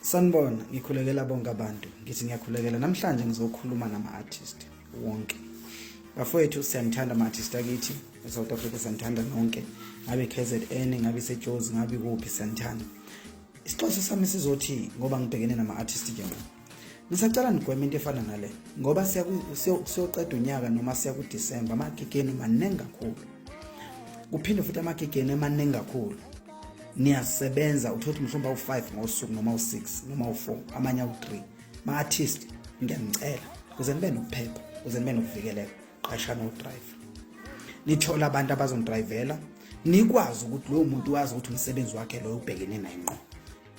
Sanibona, ngikhulekela bonke abantu. Ngithi ngiyakhulekela namhlanje ngizokhuluma nama-artist wonke. Bafowethu siyanithanda ama-artist akithi e-South Africa siyanithanda nonke. Ngabe KZN, ngabe iseJozi, ngabe kuphi siyanithanda. Isixhosa sami sizothi ngoba ngibhekene nama-artist njengoba Ngisacela nigweme into efana nale ngoba siyoqeda unyaka noma siya kuDisemba amagigeni maningi kakhulu. Kuphinde futhi amagigeni emaningi kakhulu. Niyasebenza uthothi mhlawumbe awu-5 ngosuku noma u-6 noma u-4 amanye awu-3. Ma-artist ngiyanicela kuze nibe nokuphepha kuze nibe nokuvikeleka qashana udriver. Nithole abantu abazonidrivela nikwazi ukuthi lowo muntu wazi ukuthi umsebenzi wakhe loyo ubhekene naye ngqo.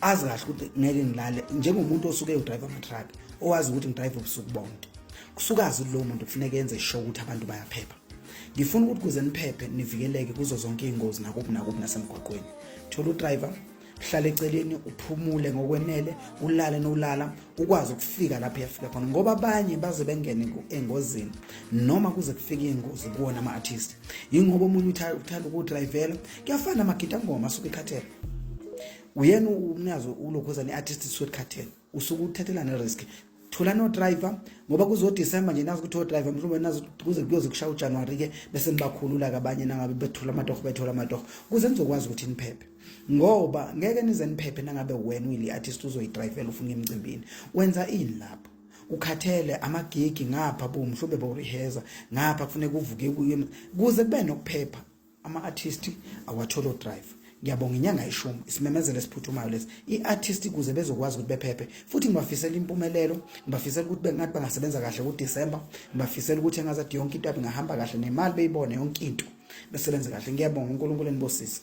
azi kahle ukuthi ngeke ngilale njengomuntu osuke udrive ama-truck owazi ukuthi ngidrive ubusuku bonke kusukazi ukuthi lowo muntu kufuneka enze sho ukuthi abantu bayaphepha ngifuna ukuthi kuze niphephe nivikeleke kuzo zonke iy'ngozi nakuphi nakuphi nasemgwaqweni thola udriver uhlale eceleni uphumule ngokwenele ulale nolala ukwazi ukufika lapho uyafika khona ngoba abanye baze bengene engozini noma kuze kufike ingozi kuwona ama-artist yingoba omunye uthanda ukudrayivela kuyafana magida ngoma asuke ekhathele uyena umnyazi ulokhoza ne-artist suke ekhathele usuke uthathela ne-risk thola no-driver ngoba kuzodisemba nje nazi ukuthi odriver mhlawumbe nazi kuze kuyoze kushaya ujanuwari-ke bese nibakhulula-ke abanye nangabe bethola amatoho bethola amatoho kuze nizokwazi ukuthi niphephe ngoba ngeke nize niphephe nangabe wena uyile artist uzoyidrayivela ufuna emcimbini wenza ini lapho ukhathele amagigi ngapha bo mhlawumbe bawureheza ngapha kufuneka uvuke kuze kube nokuphepha ama-artist awatholo drive ngiyabonga inyanga ishumi isimemezelo esiphuthumayo lesi i-artist kuze bezokwazi ukuthi bephephe futhi ngibafisela impumelelo ngibafisela ukuthi bengathi bangasebenza kahle kudisemba ngibafisela ukuthi engazathi yonke into yabe ingahamba kahle nemali beyibone yonke into besebenze kahle ngiyabonga unkulunkulu enibosise